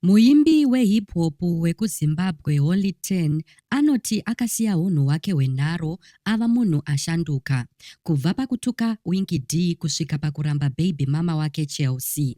Muimbi wehip hop wekuZimbabwe Holy Ten anoti akasiya hunhu hwake hwenharo ava munhu ashanduka. Kubva pakutuka Winky Dee kusvika pakuramba baby mama wake Chelsea.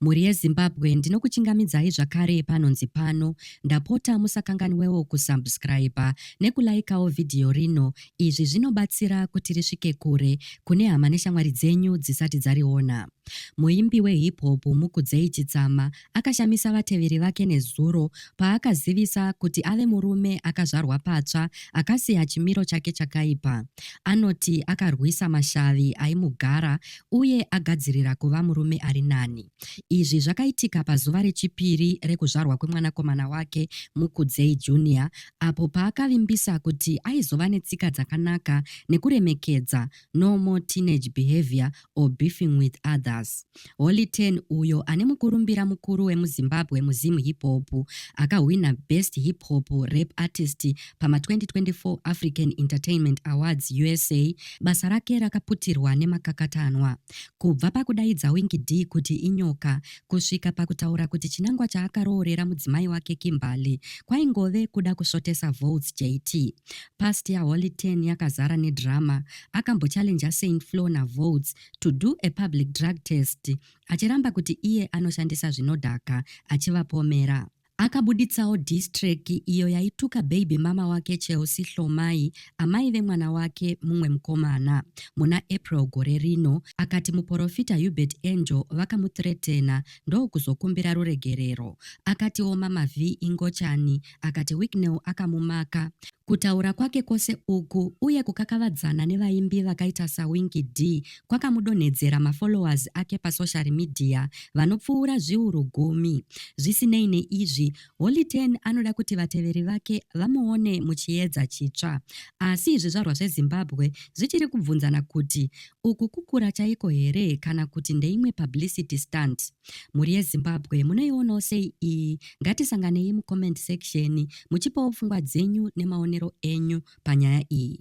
Mhuri yeZimbabwe ndinokuchingamidzai zvakare panonzi pano. Ndapota musakanganwewo kusubscriber nekulaikawo vhidhiyo rino. Izvi zvinobatsira kuti risvike kure kune hama neshamwari dzenyu dzisati dzariona. Muimbi wehip hop Mukudzei Chitsama akashamisa vateveri vake nezuro paakazivisa kuti ave murume akazvarwa patsva akasiya chimiro chake chakaipa. Anoti akarwisa mashavi aimugara uye agadzirira kuva murume ari nani. Izvi zvakaitika pazuva rechipiri rekuzvarwa kwemwanakomana wake Mukudzei Junior apo paakavimbisa kuti aizova netsika dzakanaka nekuremekedza, normal teenage behavior, or beefing with others. Holy Ten uyo ane mukurumbira mukuru wemuZimbabwe muZim Hip Hop akahwina Best Hip Hop Rap Artist pama 2024 African Entertainment Awards USA, basa rake rakaputirwa nemakakatanwa. Kubva pakudaidza Winky D kuti inyoka kusvika pakutaura kuti chinangwa chaakaroorera mudzimai wake Kimberly kwaingove kuda kusvotesa votes JT. Past yaHoly Ten yakazara nedrama akambochallenger Saint Flo naVolts to do a public drug test achiramba kuti iye anoshandisa zvinodhaka achivapomera. Akabuditsawo diss track iyo yaituka baby mama wake Chelsea Hlomai, amai vemwana wake mumwe mukomana. Muna April gore rino, akati muporofita Hubert Angel vakamuthreatena ndokuzokumbira ruregerero. Akatiwo Mama Vee ingochani akati Wicknell akamumaka. Kutaura kwake kwose uku uye kukakavadzana nevaimbi vakaita saWinky Dee kwakamudonhedzera mafollowers ake pasocial media vanopfuura zviuru gumi. Zvisinei neizvi, Holy Ten anoda kuti vateveri vake vamuone muchiedza chitsva. Asi zvizvarwa zveZimbabwe zvichiri kubvunzana kuti uku kukura chaiko here kana kuti ndeimwe publicity stunt. mhuri yezimbabwe munoionawo sei iyi ngatisanganei mucomment section muchipawo pfungwa dzenyu nemaonero enyu panyaya iyi